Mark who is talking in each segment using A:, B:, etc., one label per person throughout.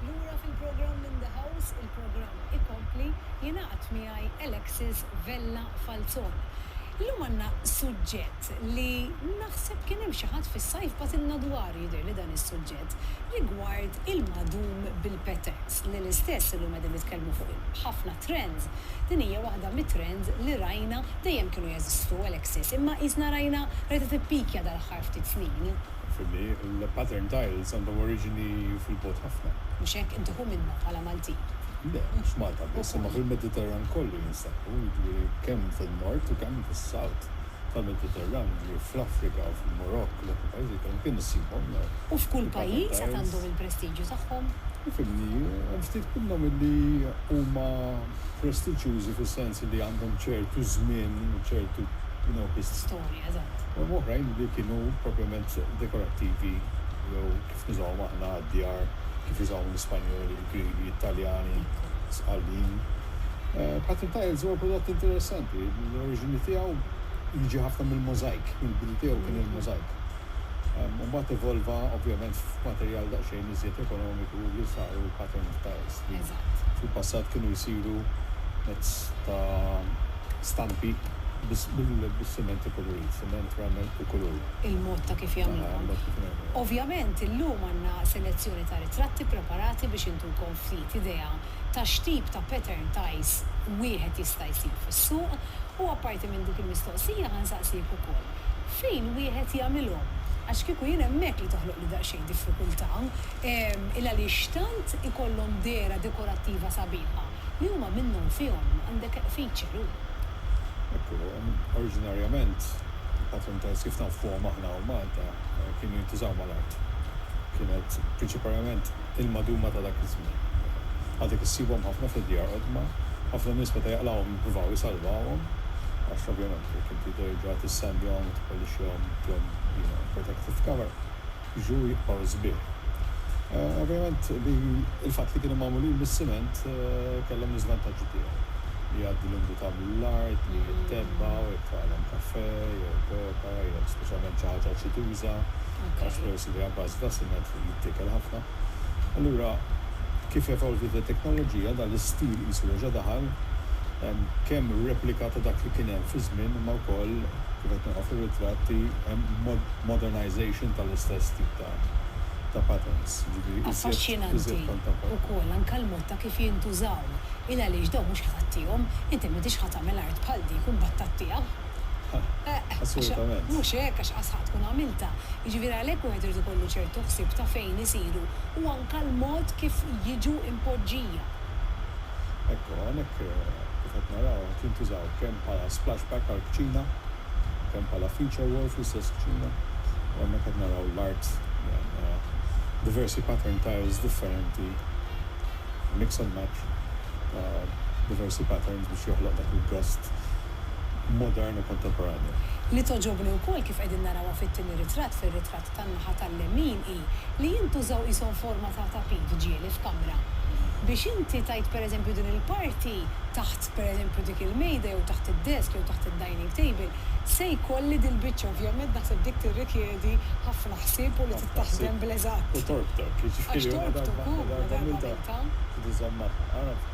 A: Lura fil-programm In the House, il-programm ikompli, jingħaqad miegħi Alexis Vella Falzon. Illum għandna suġġett li naħseb kien hemm xi ħadd fis-sajf bagħtilna dwaru jidhirli dan is-suġġett rigward il-magħdum bil-patterns li l-istess illum qegħdin nitkellmu fuq ħafna trends. Din hija waħda mit-trends li rajna dejjem kienu jeżistu Alexis imma qisna rajna rajta tippikja dal-aħħar ftit snin. Naf li
B: l-pattern tiles għandhom oriġini fil-bogħod ħafna. Mhux hekk? Inti hu
A: minnha bħala Maltin. Le, mhux f'Malta
B: biss, imma fil-Mediterran kollu jinstabu, jiġifieri kemm fin-Nord u kemm fis-South tal-Mediterran, jiġifieri fl-Afrika, fil-Murokk, dawk il-pajjiżi kollha kien issibhom dawn il-pattern tiles. U f'kull
A: pajjiż għad għandhom il-prestiġju tagħhom. Ifhimni,
B: hemm ftit minnhom li huma prestiġjużi fis-sens li għandhom ċertu żmien u ċertu, you know, hist. Storja,
A: eżatt. u oħrajn li kienu
B: propjament dekorattivi jew kif nużawhom aħna għad-djar, kif jużawhom l-Ispanjoli, il-Griegi, it-Taljani, sqallin. Pattern tiles huwa prodott interessanti, l-oriġini tiegħu jiġi ħafna mill-możajk, il-bidu tiegħu kien il-możajk. U mbagħad evolva ovvjament f'materjal daqsxejn iżjed ekonomiku li saru l-pattern tiles li fil-passat kienu jsiru mezz ta' stampi bis-siment ikulurit, siment, ramel u kulur. Il-mod ta' kif
A: jagħmluhom. Ovvjament illum għandna selezzjoni ta' ritratti ppreparati biex intukom ftit idea ta' x'tip ta' pattern ties wieħed jista' jsib fis-suq u apparti minn dik il-mistoqsija ħa nsaqsiek ukoll fejn wieħed jagħmilhom għax kieku jien hemmhekk li toħloqli daqsxejn diffikultà il-għaliex tant ikollhom dehra dekorattiva sabiħa. li huma minnhom fihom għandek
B: feature u. Ekku, oriġinarjament il-patruntes kif nafuhom aħna hawn Malta kienu jintużaw mal-art. Kienet prinċiparjament il-maduma ta' dak iż-żmien. Għadek issibhom ħafna fid-djar qodma, ħafna nies meta jaqlgħuhom jippruvaw isalvawhom għax ovvjament jekk inti terġa' tissandjahom u tippolixxihom, tihom, you know, protective cover. Juj or sbieħ. Ovvjament li l-fatt li kienu magħmulin mis-siment kellhom l-iżvantaġġi tiegħu. Jgħaddi l-umdità mill-art, lejn it-tebba u jekk tagħlem kafè jew koka jew speċjalment xi ħaġa aċiduża, għax peress li hija bażi ta' siment jittiekel ħafna. Allura. Kif evolviet it-teknoloġija, dan l-istil qisu reġa' daħal. Hemm kemm replika ta' dak li kien hemm fi żmien imma wkoll, kif qed nara fir-ritratti, hemm modernisation tal-istess tip ta' ta' patterns, jiġifieri iżjed iżjed kontemporanji.
A: Affaxxinanti wkoll anke l-mod ta' kif jintużaw, il għaliex dawn mhux ħa tagħtihom, inti m'intix ħa tagħmel art bħal dik u mbagħad tagħtiha. Assolutament.
B: Mhux hekk, għax
A: asħaq tkun għamiltha. Jiġifieri għalhekk wieħed irid ikollu ċertu ħsieb ta' fejn isiru u anke l-mod kif jiġu impoġġija.
B: Ekku, hawnhekk kif qed naraw qed jintużaw kemm bħala splashback għall-kċina, kemm bħala feature wall fl-istess kċina u hemmhekk qed naraw l-art li għandha diversi pattern tiles differenti, mix and match ta' diversi patterns biex joħloq dak il-gost. modern u kontemporanju. Li togħġobni
A: wkoll kif qegħdin narawha fit-tieni ritratt, fir-ritratt tan-naħa tal-lemin, hi li jintużaw qishom forma ta' tapit ġieli f'kamra. Biex inti tgħid pereżempju din il-parti taħt pereżempju dik il-mejda jew taħt id-desk jew taħt id-dining table, se jkolli dil-biċċa. Ovvjament naħseb dik tirrikjedi ħafna ħsieb u li tittaħdem bl-eżatt. Ħafna ħsieb u torbtok,
B: jiġifieri huma
A: darba għamiltha trid iżomm magħha.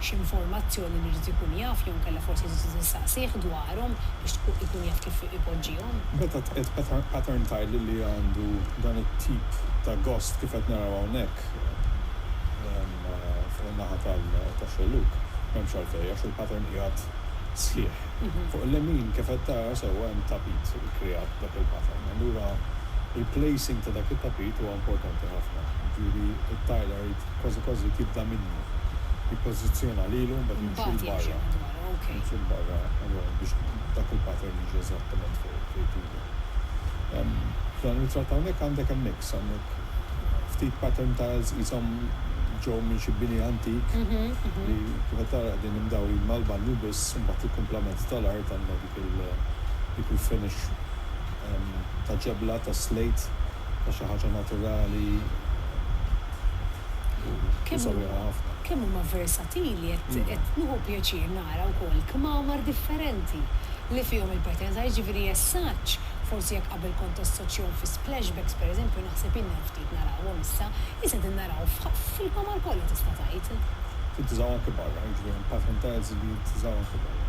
A: x'informazzjoni li jrid ikun jaf jew inkella forsi trid tistaqsih dwarhom biex ikun jaf kif ipoġġihom. Meta tqiegħed
B: pattern tile li għandu dan it-tip ta' gost kif qed naraw hawnhekk fuq in-naħa tax-xellug, m'hemmx għalfejn għax il-pattern qiegħed sħiħ. Fuq il-lemin kif qed tara sewwa hemm tapit ikkreat b'dak il-pattern. Allura l-placing ta' dak it-tapit huwa importanti ħafna. Jiġifieri t-tiler irid Kważi kważi tibda minnu. Jippożizzjona lilu mbagħad jimxi 'l barra. Jimxi 'l barra allura biex dak il-pattern jiġi eżattament fuq trid ilu. F'dan ir-ritratt hawnhekk għandek hemm mix, għandek ftit pattern tiles qishom ġew minn xi bini antik li kif qed tara qegħdin imdawrin mal-banju biss u mbagħad il-kumplament tal-art għandek dik il-finish ta' ġebla ta' slate ta' xi ħaġa naturali
A: u sabiħa ħafna. Kemm huma versatili qed nieħu pjaċir nara wkoll kmamar differenti li fihom il-patina ta' jiġifieri jessaġġ forsi jekk qabel kont tassoċjahom fi splashbacks pereżempju naħseb jien hemm ftit narawhom issa issa qegħdin naraw fil-kmamar kollha tista' tgħid. Tintużaw anke
B: barra jiġifieri hemm patin tiles li jintużaw anke barra.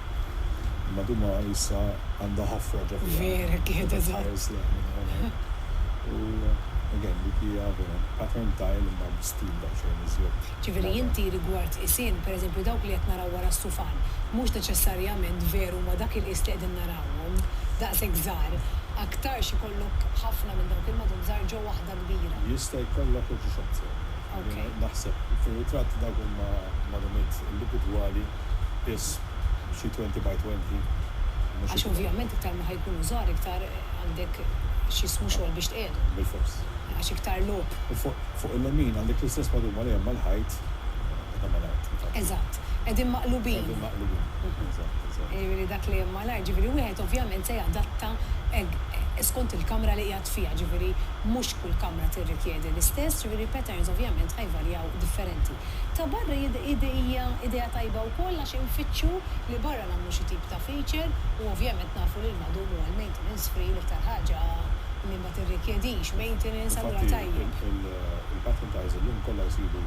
B: Imma duma issa għandha ħafra ġo fiha. Vera, kienet
A: eżatt.
B: U again, dik hija vera pattern tile imma bi stil daqsxejn iżjed. Ġifieri inti
A: rigward qisien, per eżempju dawk li qed naraw wara s-sufan, mhux neċessarjament veru huma dak il-qies li qegħdin narawhom, daqshekk żgħar, aktarx ikollok ħafna minn dawk il-madum żgħar ġo waħda kbira. Jista' jkollok u
B: ġiġ aktar. Naħseb fir-ritratt dawk huma madumiet indivudwali. Iss xi twenty by twenty, mhux Għax iktar.
A: ovvjament iktar ma ħa jkunu żgħar iktar għandek x'jismu xogħol biex tqiegħdhom. Bilfors. Għax
B: iktar logħob.
A: U fuq fuq il-lemin
B: għandek l-istess madum għalihom mal-ħajt qed hemm mal-art, infatti. Eżatt.
A: Qegħdin maqlubin. Qegħdin maqlubin.
B: Eżatt, eżatt. Jiġifieri
A: dak li hemm mal-art, jiġifieri wieħed ovvjament se jadatta skont il-kamra li qiegħed fiha, jiġifieri mhux kull kamra tirrikjedi l-istess, jiġifieri patterns ovvjament ħa jvarjaw differenti. Ta' barra hija idea tajba wkoll għax infittxu li barra nagħmlu xi tip ta' feature u ovvjament nafu li l-madum huwa l-maintenance free l-iktar ħaġa li ma tirrikjedix maintenance allura tajjeb. Infatti il-batten
B: tiles illum kollha jsiru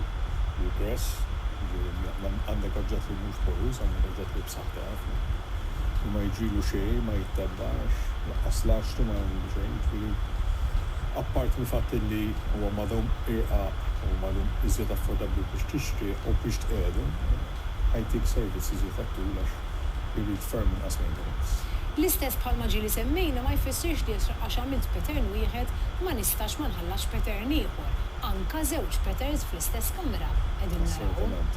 B: regress, jiġifieri għandek oġġett li mhux poruż, għandek oġġett li Aktar. U ma jiġrilu xejn, ma jittebbax, lanqas l-għaxtu ma jagħmillu xejn, jiġifieri apparti mill-fatt illi huwa madhom irqaq u madhom iżjed affordabbli biex tixtrih u biex tqiegħdu, ħajtik servizz iżjed għat-tul għax irid ferm inqas maintenance. L-istess bħalma
A: ġieli semmejna ma jfissirx li jekk għax għamilt pattern wieħed ma nistax ma nħallasx pattern ieħor, anka żewġ patterns fl-istess Assolutament.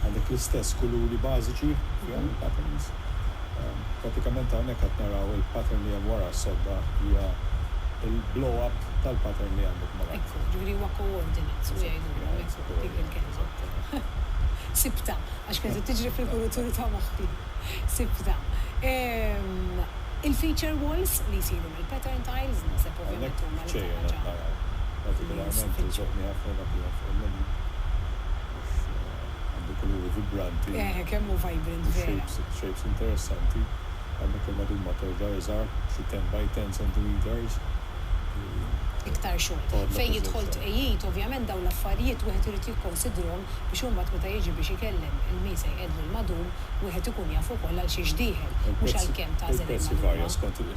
A: Għandek
B: l-istess kuluri bażiċi fihom il-patterns. Prattikament hawnhekk qed naraw il-pattern li hemm wara s-sodda hija l-blow up tal-pattern li għandek ma' taħt. Ekku, ġifieri huwa coordinate
A: u jgħidulhom hekk dik il-kelma. Sibtha, għax kienet qed tiġri fil-kuruturi ta' moħħi. Sibtha. Il-feature walls li jsiru.
B: Il-pattern tiles naħseb ovvjament
A: huma l-iktar
B: ħaġa li jispiċċaw bħala Eħe kemm hu vibrant vera! Iktar
A: xogħol. Fejn jidħol tqegħid ovvjament dawn l-affarijiet wieħed irid jikkonsidrhom biex imbagħad meta jiġi biex ikellem il-min se jqeddlu l-madum wieħed ikun jaf ukoll għalxiex dieħel mhux għalkemm tagħżel il-madum.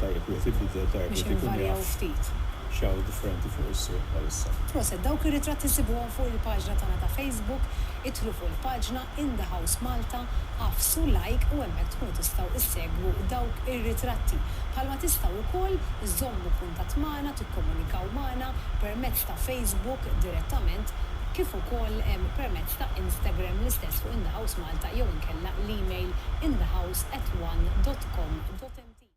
B: Tajjeb wieħed ibiddel, tajjeb wieħed ikun jaf
A: x'hawn differenti
B: fuq is-suq bħalissa. Proset, dawk ir-ritratti
A: ssibuhom fuq il-paġna tagħna ta' Facebook, idħlu fuq il-paġna In the House Malta, agħfsu like u hemmhekk tkunu tistgħu issegwu dawk ir-ritratti. Bħalma tistgħu wkoll iżżommu kuntatt magħna, tikkomunikaw magħna permezz ta'. Facebook direttament kif ukoll permezz ta' Instagram l-istess fuq In The House Malta jew inkella l-email inthehouse@one.com.mt.